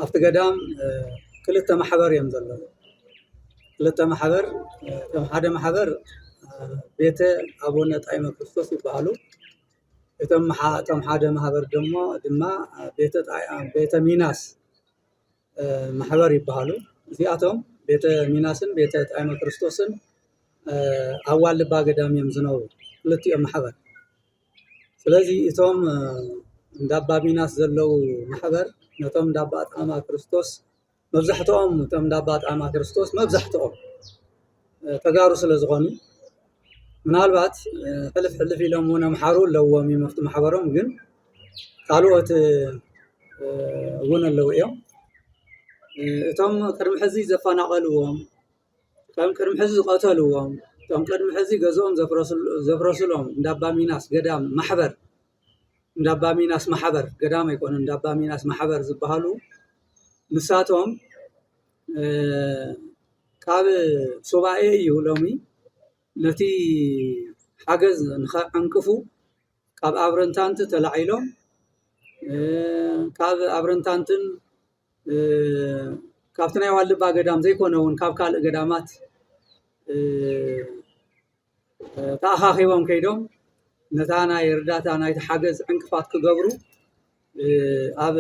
ኣብቲ ገዳም ክልተ ማሕበር እዮም ዘለዉ ክልተ ማሕበር እቶም ሓደ ማሕበር ቤተ ኣቡነ ጣይመ ክርስቶስ ይበሃሉ እቶም እቶም ሓደ ማሕበር ደሞ ድማ ቤተ ቤተ ሚናስ ማሕበር ይበሃሉ እዚኣቶም ቤተ ሚናስን ቤተ ጣይመ ክርስቶስን ኣብ ዋልባ ገዳም እዮም ዝነብሩ ክልቲኦም ማሕበር ስለዚ እቶም እንዳ ኣባ ሚናስ ዘለዉ ማሕበር ነቶም እንዳ ኣባ ኣጣማ ክርስቶስ መብዛሕትኦም እቶም እንዳ ኣባ ኣጣማ ክርስቶስ መብዛሕትኦም ተጋሩ ስለ ዝኾኑ ምናልባት ሕልፍ ሕልፍ ኢሎም እውን ኣምሓሩ ኣለዎም እዮም ኣብቲ ማሕበሮም ግን ካልኦት እውን ኣለዉ እዮም እቶም ቅድሚ ሕዚ ዘፈናቐልዎም እቶም ቅድሚ ሕዚ ዝቐተልዎም፣ እቶም ቅድሚ ሕዚ ገዝኦም ዘፍረሱሎም እንዳ ኣባ ሚናስ ገዳም ማሕበር፣ እንዳ ኣባ ሚናስ ማሕበር ገዳም ኣይኮነን እንዳ ኣባ ሚናስ ማሕበር ዝበሃሉ ንሳቶም ካብ ሱባኤ እዩ ሎሚ ነቲ ሓገዝ ንኸዕንቅፉ ካብ ኣብረንታንቲ ተላዒሎም ካብ ኣብረንታንትን ካብቲ ናይ ዋልድባ ገዳም ዘይኮነ እውን ካብ ካልእ ገዳማት ተኣኻኺቦም ከይዶም ነታ ናይ እርዳታ ናይቲ ሓገዝ ዕንቅፋት ክገብሩ ኣብ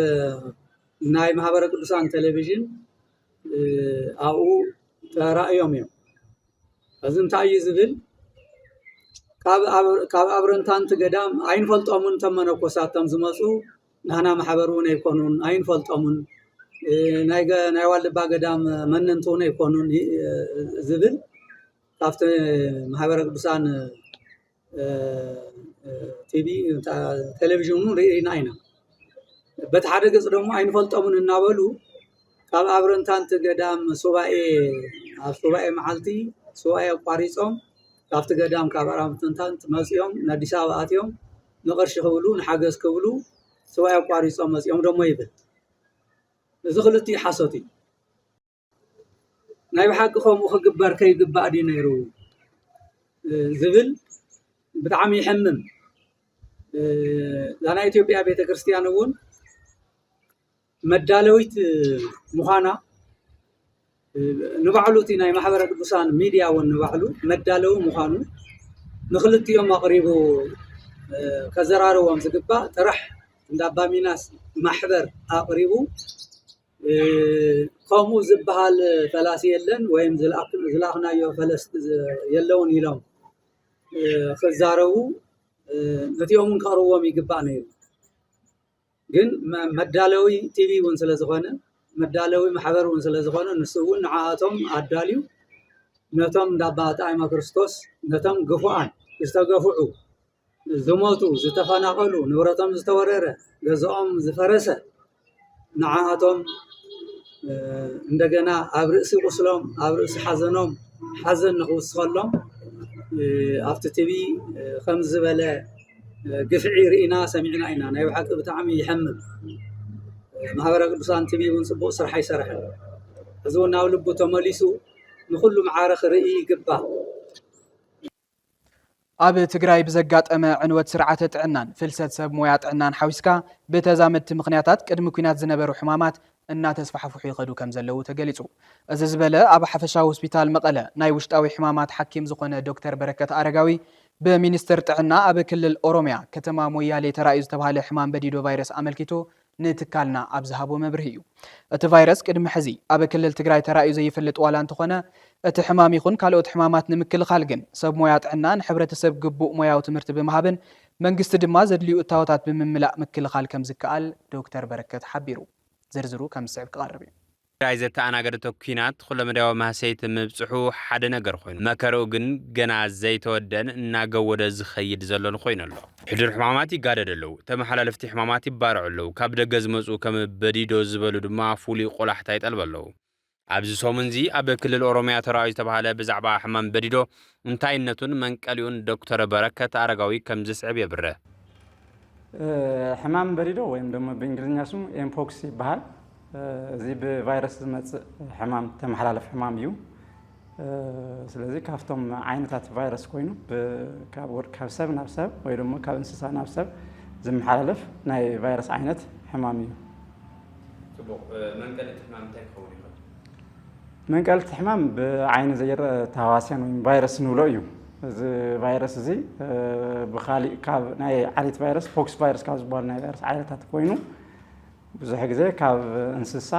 ናይ ማህበረ ቅዱሳን ቴሌቪዥን ኣብኡ ተራእዮም እዮም እዚ እንታይ እዩ ዝብል ካብ ኣብረንታንቲ ገዳም ኣይንፈልጦምን ተመነኮሳት ከም ዝመፁ ናህና ማሕበር እውን ኣይኮኑን ኣይንፈልጦምን ናይ ዋልድባ ገዳም መነንቲ እውን ኣይኮኑን ዝብል ካብቲ ማሕበረ ቅዱሳን ቲቪ ቴሌቪዥን እውን ርኢና ኢና በቲ ሓደ ገፅ ደግሞ ኣይንፈልጦምን እናበሉ ካብ ኣብረንታንቲ ገዳም ሱባኤ ኣብ ሱባኤ መዓልቲ ሱባኤ ኣቋሪፆም ካብቲ ገዳም ካብ ኣራምቶንታን መጺኦም ንኣዲስ ኣበባ ኣትዮም ንቕርሺ ክብሉ ንሓገዝ ክብሉ ስዋይ ኣቋሪጾም መጺኦም ደሞ ይብል እዚ ክልቲኡ ሓሶት እዩ ናይ ብሓቂ ከምኡ ክግበር ከይግባእ ድዩ ነይሩ ዝብል ብጣዕሚ ይሕምም እዛ ናይ ኢትዮጵያ ቤተ ክርስቲያን እውን መዳለዊት ምዃና ንባዕሉ እቲ ናይ ማሕበረ ቅዱሳን ሚድያ እውን ንባዕሉ መዳለዊ ምዃኑ ንክልቲኦም ኣቕሪቡ ከዘራርቦም ዝግባእ ጥራሕ እንዳ ኣባሚናስ ማሕበር ኣቕሪቡ ከምኡ ዝበሃል ፈላሲ የለን ወይም ዝለኣኽናዮ ፈለስቲ የለውን ኢሎም ክዛረቡ ነቲኦምን ከቕርዎም ይግባእ ነይሩ። ግን መዳለዊ ቲቪ እውን ስለ ዝኾነ መዳለዊ ማሕበር እውን ስለ ዝኾነ ንሱ እውን ንዓኣቶም ኣዳልዩ ነቶም እንዳ ኣባ ጣዕመ ክርስቶስ ነቶም ግፉዓን ዝተገፍዑ ዝሞቱ ዝተፈናቐሉ ንብረቶም ዝተወረረ ገዝኦም ዝፈረሰ ንዓኣቶም እንደገና ኣብ ርእሲ ቁስሎም ኣብ ርእሲ ሓዘኖም ሓዘን ንኽውስኸሎም ኣብቲ ቲቪ ከም ዝበለ ግፍዒ ሪኢና ሰሚዕና ኢና ናይ ብሓቂ ብጣዕሚ ይሐምም ማህበረ ቅዱሳን ቲቪ እውን ፅቡቅ ስራሕ ኣይሰርሐን እዚ እውን ናብ ልቡ ተመሊሱ ንኩሉ ማዕረ ክርኢ ይግባእ ኣብ ትግራይ ብዘጋጠመ ዕንወት ስርዓተ ጥዕናን ፍልሰት ሰብ ሞያ ጥዕናን ሓዊስካ ብተዛመድቲ ምኽንያታት ቅድሚ ኲናት ዝነበሩ ሕማማት እናተስፋሕፍሑ ይኸዱ ከምዘለዉ ተገሊፁ። እዚ ዝበለ ኣብ ሓፈሻዊ ሆስፒታል መቐለ ናይ ውሽጣዊ ሕማማት ሓኪም ዝኾነ ዶክተር በረከት ኣረጋዊ ብሚኒስትር ጥዕና ኣብ ክልል ኦሮሚያ ከተማ ሞያሌ ተራእዩ ዝተብሃለ ሕማም በዲዶ ቫይረስ ኣመልኪቱ ንትካልና ኣብ ዝሃቦ መብርሂ እዩ። እቲ ቫይረስ ቅድሚ ሕዚ ኣብ ክልል ትግራይ ተራእዩ ዘይፈልጥ ዋላ እንተኾነ እቲ ሕማም ይኹን ካልኦት ሕማማት ንምክልኻል ግን ሰብ ሞያ ጥዕና ንሕብረተሰብ ግቡእ ሞያዊ ትምህርቲ ብምሃብን መንግስቲ ድማ ዘድልዩ እታወታት ብምምላእ ምክልኻል ከምዝከኣል ዶክተር በረከት ሓቢሩ። ዝርዝሩ ከም ዝስዕብ ክቐርብ እዩ። ትግራይ ዘተኣናገደቶ ኲናት ኹለመዳያዊ ማህሰይቲ ምብፅሑ ሓደ ነገር ኾይኑ፣ መከርኡ ግን ገና ዘይተወደእን እናገወደ ዝኸይድ ዘሎን ኾይኑ ኣሎ። ሕዱር ሕማማት ይጋደዱ ኣለዉ፣ ተመሓላለፍቲ ሕማማት ይባርዑ ኣለዉ፣ ካብ ደገ ዝመፅኡ ከም በዲዶ ዝበሉ ድማ ፍሉይ ቖላሕታ ይጠልቡ ኣለዉ። ኣብዚ ሰሙን'ዚ ኣብ ክልል ኦሮሚያ ተራእዩ ዝተባህለ ብዛዕባ ሕማም በዲዶ፣ እንታይነቱን መንቀሊኡን ዶክተር በረከት ኣረጋዊ ከምዚ ዝስዕብ የብርህ። ሕማም በዲዶ ወይም ደሞ ብእንግሊዝኛ ስሙ ኤምፖክስ ይበሃል። እዚ ብቫይረስ ዝመጽእ ሕማም ተመሓላለፍ ሕማም እዩ። ስለዚ ካብቶም ዓይነታት ቫይረስ ኮይኑ ካብ ሰብ ናብ ሰብ ወይ ድማ ካብ እንስሳ ናብ ሰብ ዝመሓላለፍ ናይ ቫይረስ ዓይነት ሕማም እዩ። ፅቡቕ መንቀሊ እቲ ሕማም እንታይ ክኸውን ይኽእል? መንቀሊ እቲ ሕማም ብዓይኒ ዘይረአ ተሃዋስያን ወይ ቫይረስ ንብሎ እዩ። እዚ ቫይረስ እዚ ብካሊእ ካብ ናይ ዓሌት ቫይረስ ፖክስ ቫይረስ ካብ ዝበሃሉ ናይ ቫይረስ ዓይነታት ኮይኑ ብዙሕ ግዜ ካብ እንስሳ፣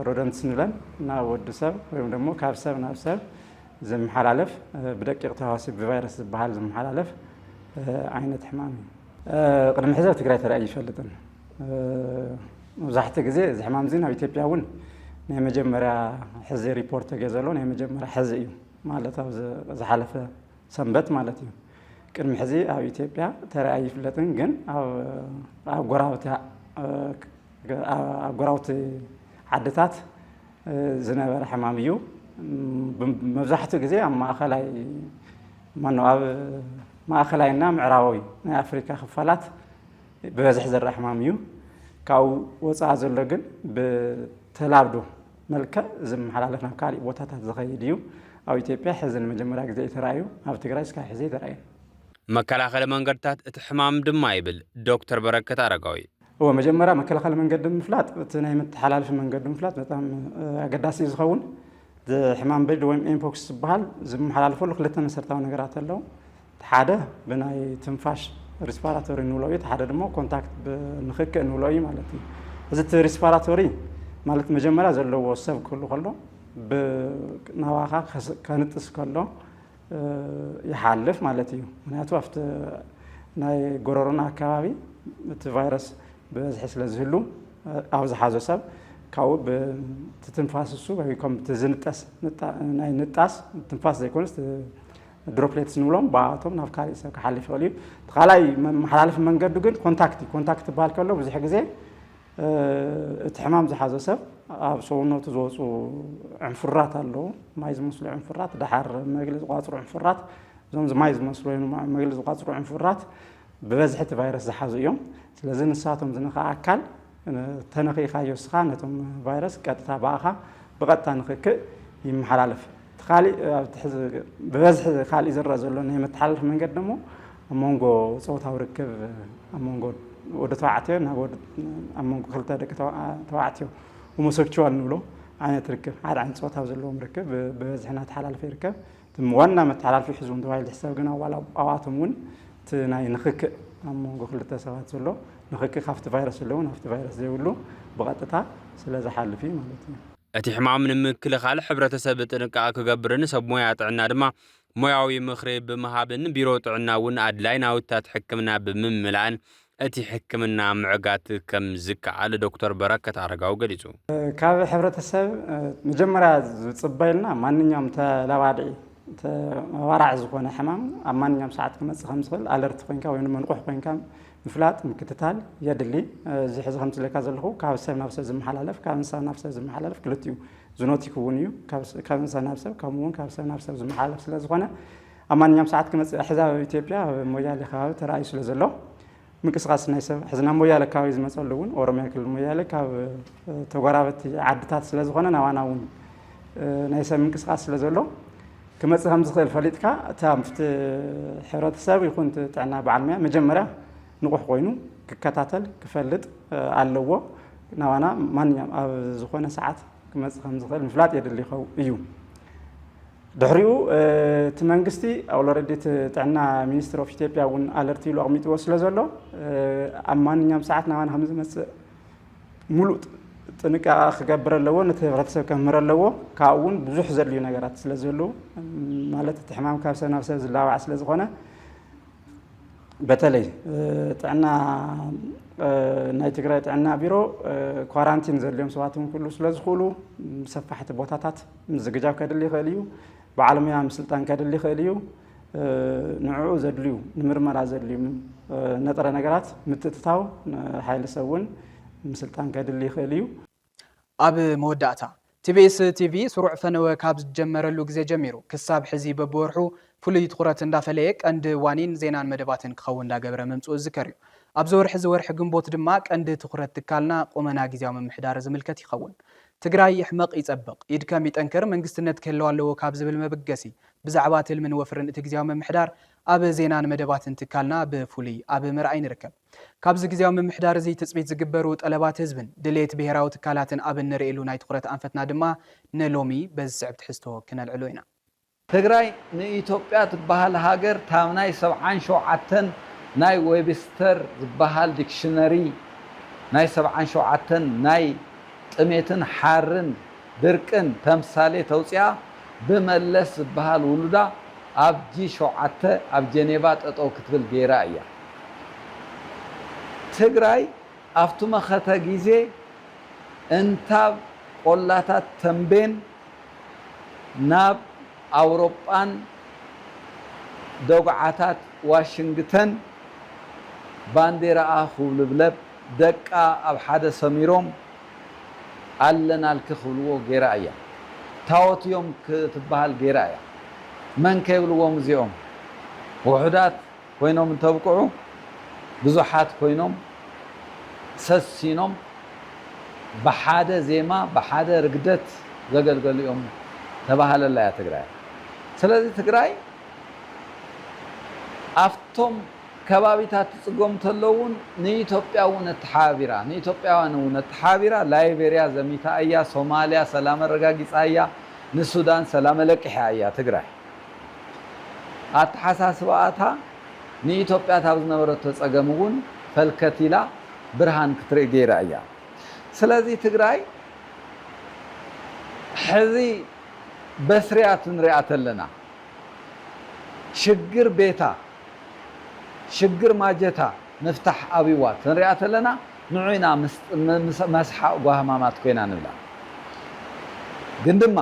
ሮደንትስ ንብለን፣ ናብ ወዲ ሰብ ወይም ደሞ ካብ ሰብ ናብ ሰብ ዝመሓላለፍ ብደቂቕ ተህዋሲ ብቫይረስ ዝበሃል ዝመሓላለፍ ዓይነት ሕማም እዩ። ቅድሚ ሕዚ ኣብ ትግራይ ተራእዩ ኣይፈልጥን። መብዛሕትኡ ግዜ እዚ ሕማም እዚ ናብ ኢትዮጵያ እውን ናይ መጀመርያ ሕዚ ሪፖርት ተገይሩ ዘሎ ናይ መጀመርያ ሕዚ እዩ ማለት ኣብ ዝሓለፈ ሰንበት ማለት እዩ። ቅድሚ ሕዚ ኣብ ኢትዮጵያ ተሪኣ ኣይፍለጥን፣ ግን ኣብ ጎረባብቲ ዓድታት ዝነበረ ሕማም እዩ። መብዛሕትኡ ግዜ ኣብ ማእኸላይ ማነው ኣብ ማእኸላይና ምዕራባዊ ናይ ኣፍሪካ ክፋላት ብበዝሒ ዝረኣ ሕማም እዩ። ካብኡ ወፃኢ ዘሎ ግን ብተላብዶ መልክዕ ዝመሓላለፍ ናብ ካሊእ ቦታታት ዝኸይድ እዩ። ኣብ ኢትዮጵያ ሕዚ ንመጀመርያ ግዜ እዩ ተራእዩ፣ ኣብ ትግራይ እስካብ ሕዚ ኣይተራእየን። መከላኸሊ መንገድታት እቲ ሕማም ድማ ይብል ዶክተር በረከት ኣረጋዊ። እወ መጀመርያ መከላኸሊ መንገዲ ምፍላጥ እቲ ናይ መተሓላለፊ መንገዱ ምፍላጥ በጣም ኣገዳሲ እዩ ዝኸውን። እቲ ሕማም በድሊ ወይም ኤምፖክስ ዝበሃል ዝመሓላለፈሉ ክልተ መሰረታዊ ነገራት ኣለው። እቲ ሓደ ብናይ ትንፋሽ ሪስፓራቶሪ ንብሎ እዩ፣ እቲ ሓደ ድማ ኮንታክት ብንክክእ ንብሎ እዩ ማለት እዩ። እዚ እቲ ሪስፓራቶሪ ማለት መጀመርያ ዘለዎ ሰብ ክህሉ ከሎ ናባኻ ከንጥስ ከሎ ይሓልፍ ማለት እዩ። ምክንያቱ ኣብቲ ናይ ጎረሮና ኣካባቢ እቲ ቫይረስ ብበዝሒ ስለ ዝህሉ ኣብ ዝሓዞ ሰብ ካብኡ ብትትንፋስ እሱ ወይ ከም ዝንጠስ ናይ ንጣስ ትንፋስ ዘይኮነስ ድሮፕሌትስ ንብሎም ብኣቶም ናብ ካልእ ሰብ ክሓልፍ ይኽእል እዩ እቲ ካልኣይ መመሓላለፊ መንገዱ ግን ኮንታክት እዩ ኮንታክት ዝበሃል ከሎ ብዙሕ ግዜ እቲ ሕማም ዝሓዞ ሰብ ኣብ ሰውነቱ ዝወፁ ዕንፍራት ኣለዉ ማይ ዝመስሉ ዕንፍራት ድሓር መግሊ ዝቋፅሩ ዕንፍራት እዞም ማይ ዝመስሉ ወይ መግሊ ዝቋፅሩ ዕንፍራት ብበዝሒ እቲ ቫይረስ ዝሓዙ እዮም። ስለዚ ንሳቶም ዝነኽኣ ኣካል ተነኺእኻዮ እስኻ ነቶም ቫይረስ ቀጥታ ብኣኻ ብቐጥታ ንክክእ ይመሓላለፍ። እቲ ካሊእ ኣብቲ ሕዚ ብበዝሒ ካሊእ ዝረኣ ዘሎ ናይ መተሓላለፊ መንገዲ ደሞ ኣብ መንጎ ፆታዊ ርክብ ኣብ መንጎ ወዲ ተባዕትዮ ናብ ወዲ ኣብ መንጎ ክልተ ደቂ ተባዕትዮ ሆሞሴክቹዋል ንብሎ ዓይነት ርክብ ሓደ ዓይነት ፆታ ዘለዎም ርክብ ብበዝሒ እናተሓላለፈ ይርከብ። እቶም ዋና መተሓላልፊ ሒዙዎም ተባሂሉ ዝሕሰብ ግና ዋላ ኣብኣቶም እውን እቲ ናይ ንኽክእ ኣብ መንጎ ክልተ ሰባት ዘሎ ንኽክእ ካብቲ ቫይረስ ዘለዎ ናብቲ ቫይረስ ዘይብሉ ብቐጥታ ስለዝሓልፍ እዩ ማለት እዩ። እቲ ሕማም ንምክልኻል ሕብረተሰብ ጥንቃቐ ክገብርን ሰብ ሞያ ጥዕና ድማ ሞያዊ ምኽሪ ብምሃብን ቢሮ ጥዕና እውን ኣድላይ ናውትታት ሕክምና ብምምላእን እቲ ሕክምና ምዕጋት ከም ዝከኣል ዶክተር በረከት ኣረጋዊ ገሊፁ። ካብ ሕብረተሰብ መጀመርያ ዝፅበዩልና ማንኛውም ተላባዲ ተባራዒ ዝኾነ ሕማም ኣብ ማንኛውም ሰዓት ክመፅእ ከም ዝኽእል ኣለርቲ ኮይንካ ወይ ንመንቑሕ ኮይንካ ምፍላጥ ምክትታል የድሊ። እዚ ሕዚ ከምቲ ዝብለካ ዘለኹ ካብ ሰብ ናብ ሰብ ዝመሓላለፍ ካብ እንስሳ ናብ ሰብ ዝመሓላለፍ ክልቲኡ ዝኖቲክ እውን እዩ ካብ እንስሳ ናብ ሰብ ከምኡ እውን ካብ ሰብ ናብ ሰብ ዝመሓላለፍ ስለ ዝኾነ ኣብ ማንኛውም ሰዓት ክመፅእ ሕዚ ኣብ ኢትዮጵያ ኣብ ሞያሌ ከባቢ ተራእዩ ስለ ዘሎ ምንቅስቃስ ናይ ሰብ ሕዚ ናብ ሞያሌ ከባቢ ዝመፀሉ እውን ኦሮሚያ ክልል ሞያሌ ካብ ተጎራበቲ ዓድታት ስለ ዝኾነ ናባና እውን ናይ ሰብ ምንቅስቃስ ስለ ዘሎ ክመፅእ ከም ዝኽእል ፈሊጥካ እታ ምፍቲ ሕብረተሰብ ይኹን ጥዕና በዓል ሙያ መጀመርያ ንቑሕ ኮይኑ ክከታተል ክፈልጥ ኣለዎ ናባና ማንኛውም ኣብ ዝኾነ ሰዓት ክመፅእ ከም ዝኽእል ምፍላጥ የድሊ ይኸው እዩ ድሕሪኡ እቲ መንግስቲ ኣውሎረዲ እቲ ጥዕና ሚኒስትሪ ኦፍ ኢትዮጵያ እውን ኣለርት ኢሉ ኣቕሚጥዎ ስለ ዘሎ ኣብ ማንኛውም ሰዓት ናባና ከም ዝመፅእ ሙሉእ ጥንቃቐ ክገብር ኣለዎ ነቲ ህብረተሰብ ከምህር ኣለዎ ካብኡ እውን ብዙሕ ዘድልዩ ነገራት ስለ ዘለዉ ማለት እቲ ሕማም ካብ ሰብ ናብ ሰብ ዝላባዕ ስለ ዝኾነ በተለይ ጥዕና ናይ ትግራይ ጥዕና ቢሮ ኳራንቲን ዘድልዮም ሰባት እውን ክህሉ ስለ ዝኽእሉ ሰፋሕቲ ቦታታት ምዝግጃው ከድሊ ይኽእል እዩ። በዓል ሙያ ምስልጣን ከድሊ ይኽእል እዩ። ንዕኡ ዘድልዩ ንምርመራ ዘድልዩ ነጥረ ነገራት ምትእትታው ሓይሊ ሰብ እውን ምስልጣን ከድሊ ይኽእል እዩ። ኣብ መወዳእታ፣ ቲቢኤስ ቲቪ ስሩዕ ፈነወ ካብ ዝጀመረሉ ግዜ ጀሚሩ ክሳብ ሕዚ በብወርሑ ፍሉይ ትኹረት እንዳፈለየ ቀንዲ ዋኒን ዜናን መደባትን ክኸውን እንዳገበረ ምምፅኡ ዝዝከር እዩ። ኣብዚ ወርሒ እዚ ወርሒ ግንቦት ድማ ቀንዲ ትኹረት ትካልና ቁመና ግዝያዊ ምምሕዳር ዝምልከት ይኸውን። ትግራይ ይሕመቕ ይፀብቕ፣ ይድከም ይጠንክር መንግስትነት ክህልዋ ኣለዎ ካብ ዝብል መበገሲ ብዛዕባ ትልምን ወፍርን እቲ ግዝያዊ ምምሕዳር ኣብ ዜናን መደባትን ትካልና ብፍሉይ ኣብ ምርኣይ ንርከብ። ካብዚ ግዝያዊ ምምሕዳር እዚ ትፅቢት ዝግበሩ ጠለባት ህዝብን ድሌት ብሄራዊ ትካላትን ኣብ እንርእየሉ ናይ ትኹረት ኣንፈትና ድማ ንሎሚ በዚ ዝስዕብ ትሕዝቶ ክነልዕሎ ኢና። ትግራይ ንኢትዮጵያ ትበሃል ሃገር ታብ ናይ ሰብዓን ሸውዓተን ናይ ዌብስተር ዝበሃል ዲክሽነሪ ናይ ሰብዓን ሸውዓተን ናይ ጥሜትን ሓርን ድርቅን ተምሳሌት ኣውፂኣ ብመለስ ዝበሃል ውሉዳ ኣብ ጂ ሸውዓተ ኣብ ጀኔቫ ጠጠው ክትብል ገይራ እያ ትግራይ ኣብቱ መኸተ ጊዜ እንታብ ቆላታት ተምቤን ናብ ኣውሮጳን ደጉዓታት ዋሽንግተን ባንዴራኣ ኩውልብለብ ደቃ ኣብ ሓደ ሰሚሮም ኣለናልኪ ክብልዎ ገይራ እያ። ታዎት እዮም ክትበሃል ገይራ እያ። መን ከይብልዎም እዚኦም ውሑዳት። ኮይኖም እንተብቅዑ ብዙሓት ኮይኖም ሰሲኖም ብሓደ ዜማ ብሓደ ርግደት ዘገልገሉ እዮም ተባሃለላ እያ ትግራይ ስለዚ ትግራይ ኣፍቶም ከባቢታት ትፅገሙ ተለው እውን ንኢትዮጵያ እውን ኣተሓባቢራ ንኢትዮጵያውያን እውን ኣተሓባቢራ ላይቤሪያ ዘሚታ እያ ሶማሊያ ሰላም ኣረጋጊፃ እያ ንሱዳን ሰላም ኣለቂሓ እያ ትግራይ ኣተሓሳስባኣታ ንኢትዮጵያ ካብ ዝነበረቶ ፀገም እውን ፈልከት ኢላ ብርሃን ክትርኢ ገይራ እያ። ስለዚ ትግራይ ሕዚ በስርያት ንሪኣ ተለና ሽግር ቤታ ሽግር ማጀታ ምፍታሕ ኣብይዋ ተንሪኣ ተለና ንዑ ኢና መስሓቅ ጓህማማት ኮይና ንብላ። ግን ድማ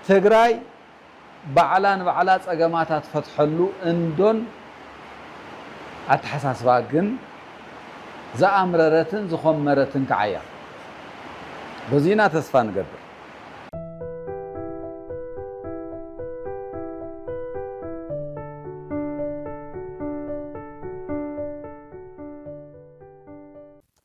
ትግራይ ባዕላ ንባዕላ ፀገማታ ትፈትሐሉ እንዶን ኣተሓሳስባ ግን ዝኣምረረትን ዝኾመረትን ከዓ እያ። በዙይ ኢና ተስፋ ንገብር።